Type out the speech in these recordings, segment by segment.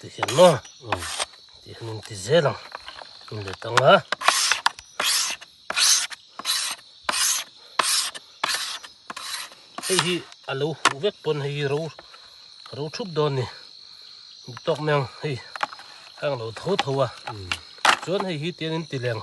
Tihian maw tih hian inti zel ang in let ang a hei hi a lo huh vek pawn hei hi ro ro thup dawn ni dik tawk mai ang hei hang lo tho tho a chuan hei hi tian in ti leng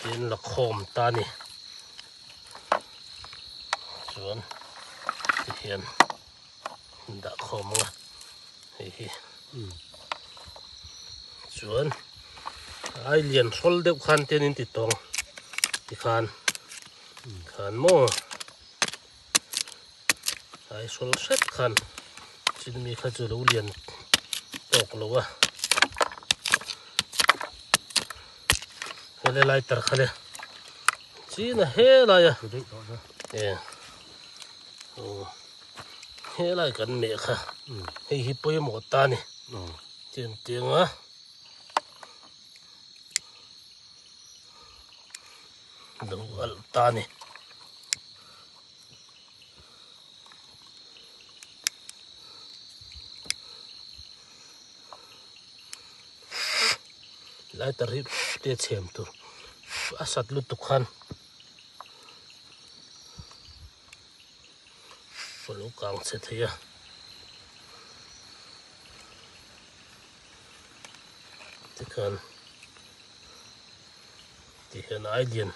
Tin la khawm ta a ni. Chuan ti hian dah khawm ang a, hei hi. Chuan ai lian hrawl deuh khan tian in ti tawng ti khan, khan maw. ai sawl hret khan chin mi kha chu lo lian tawk lo a hele lighter kha le chin a he lai a e o he lai kan meh kha hei hi pawimawh ta ni chin tiang a lo alh ta a ni lai ta rip te chhem tur a sat lutuk khan a lo kang chhe thei a. tikhan ti hian ai lian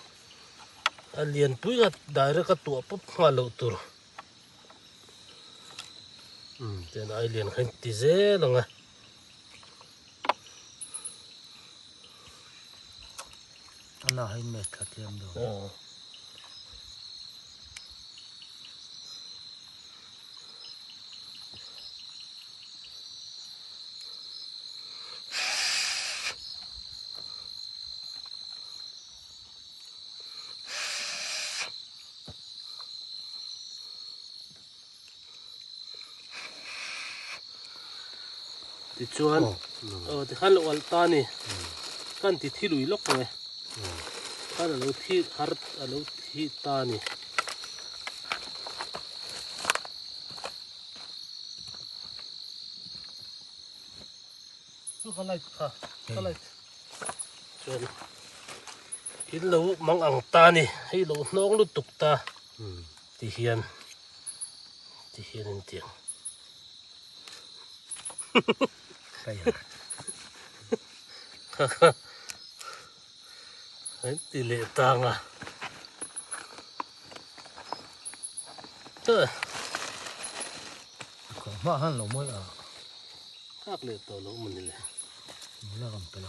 a lian pui a direct a tuah pawp nghal loh tur um tian ai lian kha in ti zel ang a. Ana hai match thla tlem do. Oh. tichuan aw tikhan lo alh ta ni khan ti thi lui lawk ang e khan alo thi har alo thi ta ni chu ka light kha ka light chuan in lo mang ang ta ni hei lo hnawng lutuk ta Ti hian ti hian in ti ang. Kaka. Hei ti le tang a. Tơ. Ko ma han lo moi a. Kak le to lo mani le. Mula ram pe lo.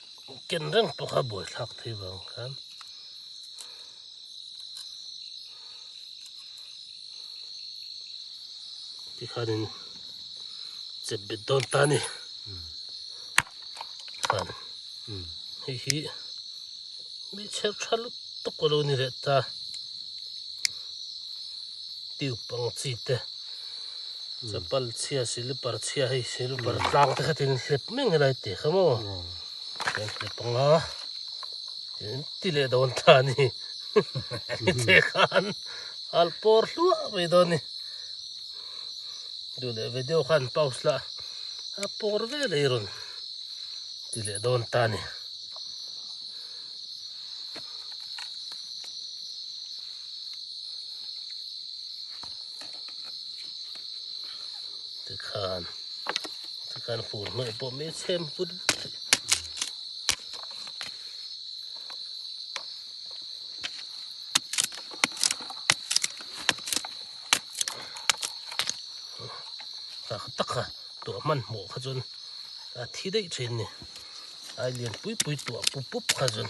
ken reng tawk a buai thlak thei vang khan ti khanin chet bet dawn ta ni khan hei hi mi chher tha lut tawk a lo ni leh ta tube ang chi te Chapal chhia silipar chhia hei silipar tlang te khatin hlep meng helai teh kha maw kan hre panga tin ti leh dawn ta ni ni che khan al pawr hluah mai dawn ni duh leh ve deuh khan pause la a pawr ve leh rawn ti leh dawn ta ni tikhan tikhan fur hnawih pawh mai chhem vut vut hi tak tak a tuah hman hmawh kha chuan a thi daih thin a ni a lian pui pui tuah pup pup kha chuan.